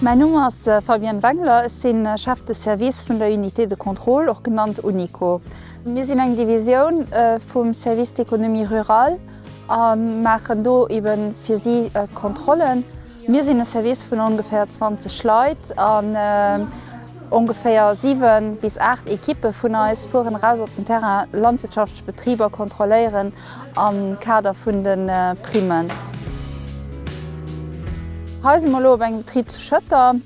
Mäin Numm ass Fabienne Wengler, ech si Chef de Service vun der Unité de contrôle, och genannt Unico. Mir sinn eng Divisioun vum Service d'économie rurale a maachen do ebe fir si Kontrollen. Mir sinn e Service vun ongeféier 20 Leit an ongeféier 7 bis 8 Ekippe vun eis fueren eraus op den Terrain landwirtschaftlech Betriber kontrolléieren am Kader vun de Primen. Hei si mer elo op engem Betrib zu Schëtter.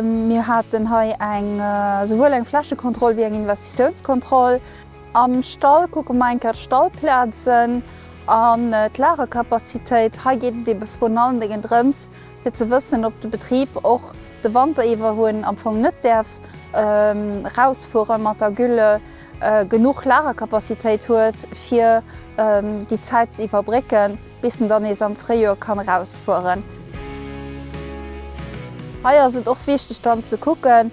Mir haten hei eng souwuel eng Flächekontroll wéi eng Investitiounskontroll. Am Stall kucke mer enker d'Stallplazen an d'Lagercapacitéit. Hei geet et ebe vrun allen Dengen drëms fir ze wëssen op de Betrib och de Wanter iwwer hunn am Fong net däerf rausfuere mat der Gülle, genuch Lagercapacitéit huet fir déi Zäit ze iwwerbrécken bis en dann nees am Fréijoer kann rausfueren. Hei ass et och wichteg dann ze kucken,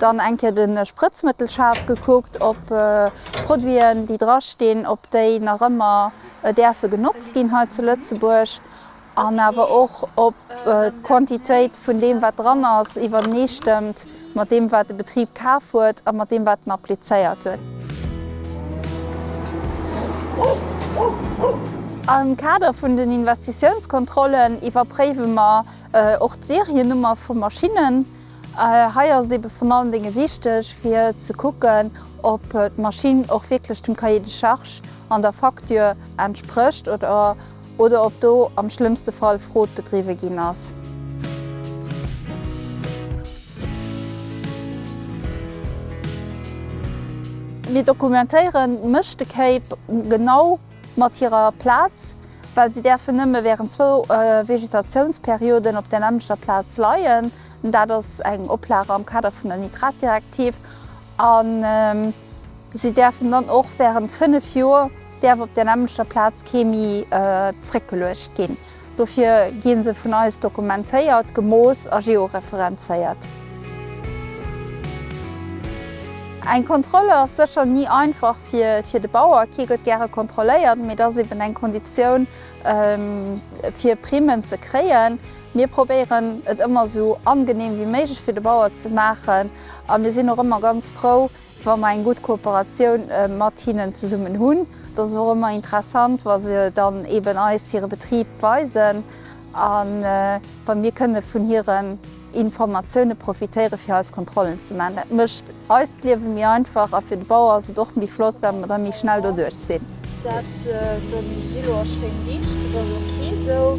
dann eng Kéier de Sprëtzmëttelschaf gekuckt, ob d'Produiten, déi drastinn, ob déi nach ëmmer däerfe genotzt ginn hei zu Lëtzebuerg an awer och, ob d'Quantitéit vun deem, wat dran ass, iwwerneestëmmt mat deem, wat de Betrib kaf huet a mat deem, wat en applizéiert huet. Am Kader vun den Investitiounskontrollen iwwerpréiwe mer och d'Seriennummer vu Maschinnen. Hei ass et ebe vrun allen Dénge wichteg fir ze kucken, ob d'Maschinn och wierklech dem Cahier de charge an der Facture entsprécht oder ob do am schlëmmste Fall Fraude bedriwwe ginn ass. Mir dokumentéieren d'Mëschtekéip genau. mat hirer Plaz, well si däerfen nëmme wärend zwou Vegetatiounsperioden op der nämmlechter Plaz leien, dat ass eng Oplage am Kader vun der Nitratdirektiv, a si däerfen dann och wärend fënnef Joer, däerf op der nämmlechter Plaz kee méi zréckgeluecht ginn. Dofir gi se vun eis dokumentéiert, gemooss a georeferenzéiert. Eng Kontroll ass sécher ni einfach fir de Bauer. Kee gëtt gäre kontrolléiert, mee et ass eben eng Konditioun, fir Primmen ze kréien. Mir probéieren, et ëmmer esou angeneem wéi méiglech fir de Bauer ze maachen a mir sinn och ëmmer ganz frou, wa mer eng gutt Kooperatioun mat hinnen zesummen hunn, dat ass och ëmmer interessant, wa se dann eben eis hire Betrib weisen a wa mir kënne vun hiren Informatioune profitéiere fir eis Kontrollen ze maachen. Dat mécht eist Liewe méi einfach a fir de Bauer ass et och méi flott, well mer da méi schnell doduerch sinn. Dat dem Gillo ass schéin liicht, dat ass ok esou.